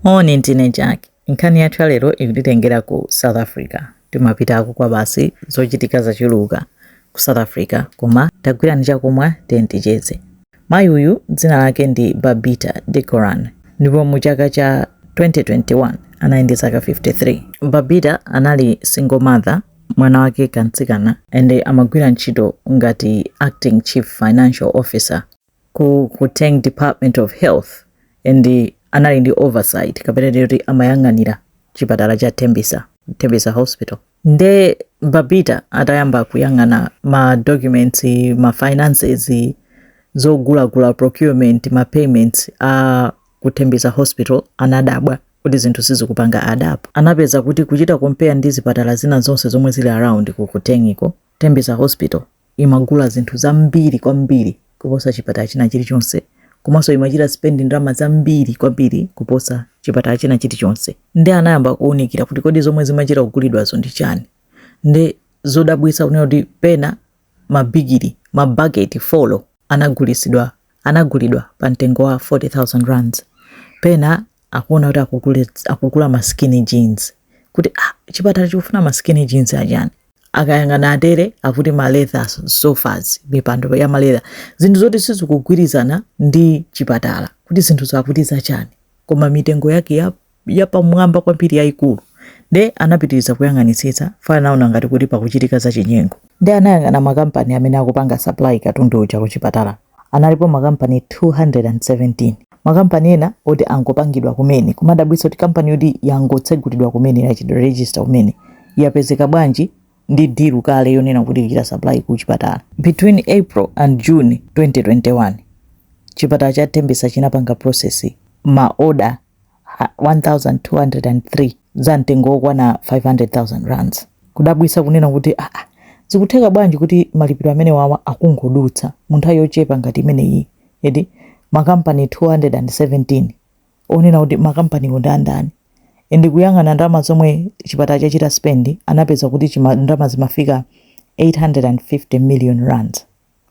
Moni, ndine Jack. Nkhani yathu ya lero ikutitengera ku South Africa. Timapitako kwabasi, zochitika zachuluka ku South Africa, koma tagwirani chakumwa tiye ticheze. Mayi uyu dzina lake ndi Babita Deokaran ndipo mu chaka cha 2021 anali ndi zaka 53. Babita anali single mother mwana wake kamtsikana and amagwira ntchito ngati acting chief financial officer ku Gauteng Department of Health and anali ndi oversight kapena titi amayang'anira chipatala cha Tembisa, Tembisa Hospital. Nde Babita atayamba kuyang'ana ma documents, ma finances, zogulagula procurement, ma payments a ku Tembisa Hospital anadabwa kuti zinthu sizikupanga add up. Anapeza kuti kuchita compare ndi zipatala zina zonse zomwe zili around ku Gautengiko, Tembisa Hospital imagula zinthu zambiri kwambiri kuposa chipatala china chilichonse komanso imachita spend ndalama zambiri kwambiri kuposa chipatala china chilichonse nde anayamba kuwunikira kuti kodi zomwe zimachita kugulidwazo ndi chani ndi zodabwitsa kunena kuti pena mabigiri mabaketi folo anagulisidwa anagulidwa pa mtengo wa 40,000 rands pena akuona kuti akugule- akugula ma skinny jeans kuti ah, chipatala chikufuna ma skinny jeans achani akayang'ana atere akuti ma leather sofas mipando ya maletha zinthu zoti sizikugwirizana ndi chipatala kuti zinthu zakuti zachani koma mitengo yake yapamwamba kwambiri yayikulu. Nde anapitiriza kuyang'anitsitsa further anaona ngati kuti pakuchitika zachinyengo. Nde anayang'ana makampani amene akupanga supply katundu uja kuchipatala. Analipo makampani 217. Makampani ena oti angopangidwa kumene. Kumadabwitsa kuti kampani yoti yangotsegulidwa kumene yachitidwa register kumene yapezeka bwanji ndi deal kale yonena kuti izichita supply kuchipatala. Between April and June 2021, chipatala cha Tembisa chinapanga process ma order 1203 za mtengo wokwana 500,000 rands. Kudabwitsa kunena kuti aa, ah, ah, zikutheka bwanji kuti malipiro amenewawa akungodutsa mu nthawi yochepa ngati imeneyi and makampani 217 onena kuti makampaniwo ndi andani and kuyang'ana ndalama zomwe chipatala chachita spend anapeza kuti ndalama zimafika 850 million rands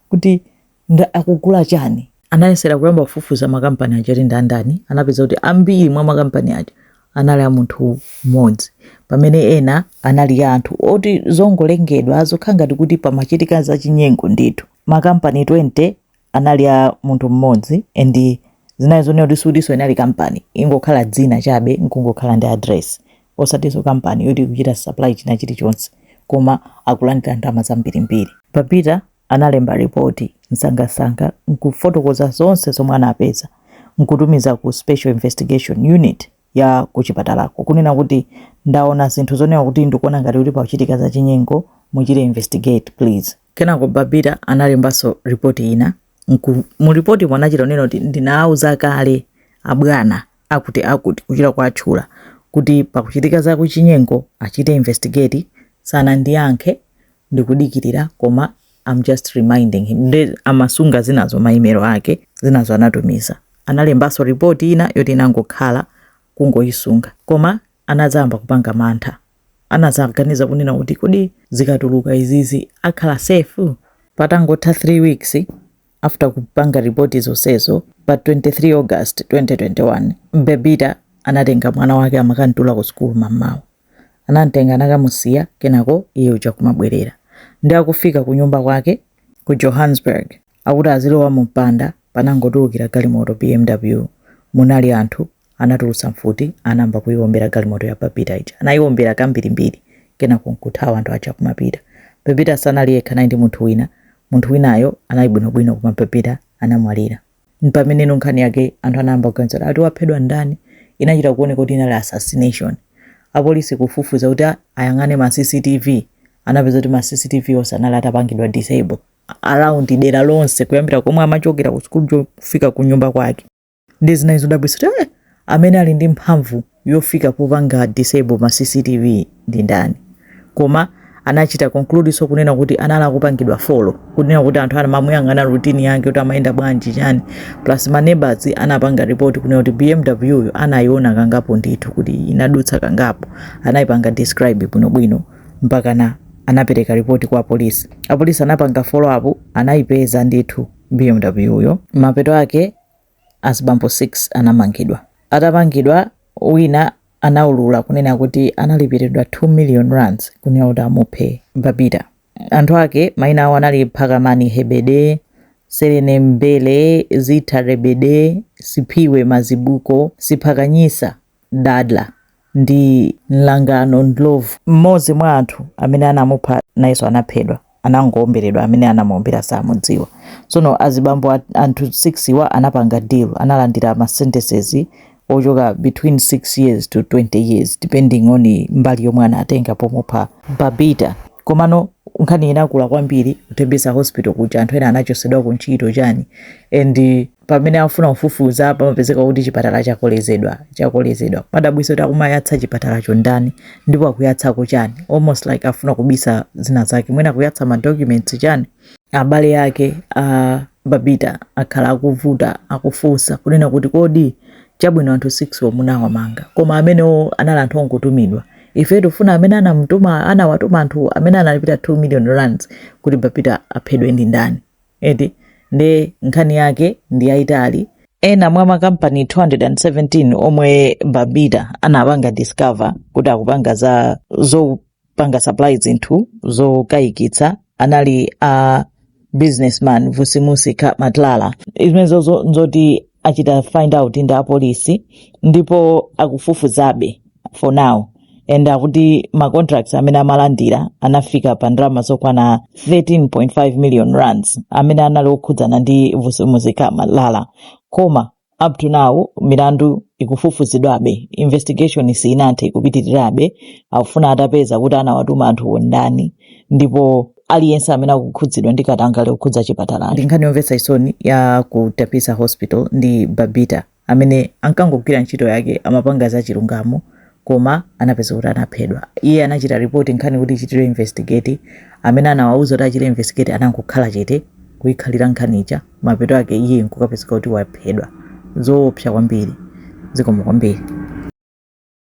kuti nde akugula chani. Anayesera kuyamba kufufuza makampani aja kuti ndi a ndani. Anapeza kuti ambiri mwa makampani aja anali a munthu mmodzi pamene ena anali a anthu oti zongolunzana zokhala ngati kuti pamachitika zachinyengo ndithu. Makampani 20 anali a munthu mmodzi and zinali zonena kuti sikutinso inali kampani, ingokhala dzina chabe n'kungokhala ndi adiresi. osatiso kampani yoti ikuchita supply china chilichonse koma akulandira ndalama zambirimbiri. Babita analemba lipoti msangamsanga n'kufotokoza zonse zomwe anapeza n'kutumiza ku Special Investigation Unit ya kuchipatalako, kunena kuti, Ndaona zinthu zonena kuti ndikuona ngati kuti pakuchitika zachinyengo, muchite investigate please. Kenako Babita analembanso lipoti ina. Mu lipotimo anachita kunena kuti, Ndinawauza kale abwana akutiakuti, kuchita kuwatchula kuti pakuchitika za kuchinyengo achite investigate sanandiyankhe ndikudikilira koma am just reminding him nde amasunga zinazo ma email ake zinazo anatumiza analembanso report ina yoti inangokhala kungoyisunga koma anadzayamba kupanga mantha anadzaganiza kunena kuti kodi zikatuluka izizi akhala safe patangotha 3 weeks after kupanga ripoti zonsezo pa 23 august 2021 Babita anatenga mwana wake amakamtula ku sukulu mammawa anamtenga anakamusiya kenako iye uja kumabwerera nde akufika ku nyumba kwake ku johannesburg akuti azilowa mu mpanda panangotulukira galimoto bmw munali anthu Anatulutsa mfuti, anayamba kuiwombera galimoto ya Babita ija. Anaiwombera kambirimbiri kenako n'kuthawa anthu aja akumapita. Babita sanali yekha, anali ndi munthu wina. Munthu winayo anali bwinobwino koma Babita anamwalira. M'pameneno nkhani yake anthu anayamba kuganiza kuti, Ati waphedwa ndani? Inachita kuoneka kuti inali assassination. Apolisi kufufuza kuti ayang'ane ma CCTV, anapeza kuti ma CCTV onse anali atapangidwa disable around dera lonse kuyambira komwe amachokera ku school kufika ku nyumba kwake. nde zinali zodabwitsa kuti eh, amene ali ndi mphamvu yofika popanga disable ma cctv ndi ndani koma anachita conclude so kunena kuti anali akupangidwa follow kunena kuti anthu amamuyang'ana routine yake kuti amayenda bwanji chani plus ma neighbors anapanga report kunena kuti bmw yo anayiona kangapo ndithu kuti inadutsa kangapo anayipanga describe bwinobwino mpakana anapereka ripoti kwa apolisi apolisi anapanga follow up anayipeza ndithu bmw yo mapeto ake azibambo 6 anamangidwa atamangidwa wina anaulula kunena kuti analipiridwa 2 million rands kunena kuti amuphe Babita. Anthu ake maina awo anali Phakamani Hebede, Serene Mbele, Zitha Rebede, Siphiwe Mazibuko, Siphakanyisa Dadla ndi nlangano ndlovu mmodzi mwa anthu amene anamupha nayenso anaphedwa anangoomberedwa amene anamuombera sakumudziwa tsono azibambo anthu 6 wa anapanga deal analandira ma sentences ochoka between 6 years to 20 years depending on mbali yomwe anatenga pomupha Babita komano nkhani inakula kwambiri ku Tembisa hospital kuja anthu ena anachotsedwa ku ntchito chani and pamene afuna kufufuza pamapezeka kuti chipatala chakolezedwa chakolezedwa modabwitsa kuti akumayatsa chipatalacho ndani ndipo akuyatsako chani almost like afuna kubisa zina zake mwina akuyatsa madocuments chani abale ake a babita akhala akuvuta akufunsa kunena kuti kodi chabwino anthu 6 omunawamanga koma amenewo anali anthu ongotumidwa ife tifuna amene anamtuma anawatuma anthu amene analipira 2 million rands kuti babita aphedwe ndi ndani eti nde nkhani yake ndi yayitali. Ena mwa makampani 217 omwe Babita anapanga discover kuti akupanga za zopanga supply zinthu zokayikitsa anali a businessman Vusimusi Cat Matlala. Zimenezozo nzoti achita find out ndi apolisi ndipo akufufuzabe for now and akuti ma contracts amene amalandira anafika pa ndalama zokwana 13.5 million rands amene anali okhudzana ndi vusimusi cat matlala koma up to now milandu ikufufuzidwabe investigation siinathe ikupitirirabe akufuna atapeza kuti anawatuma anthuwo ndani ndipo aliyense amene akukhudzidwa ndi katangale okhudza chipatalachi ndi nkhani yomvetsa chisoni ya ku tembisa hospital ndi babita amene ankangogwira ntchito yake amapanga za chilungamo koma anapeza kuti anaphedwa iye anachita ripoti nkhani kuti ichitidwe investigate amene anawauza kuti achite investigate anangokhala chete kuyikhalira nkhani ija mapeto ake iye nkukapezeka kuti waphedwa zoopsa kwambiri zikomo kwambiri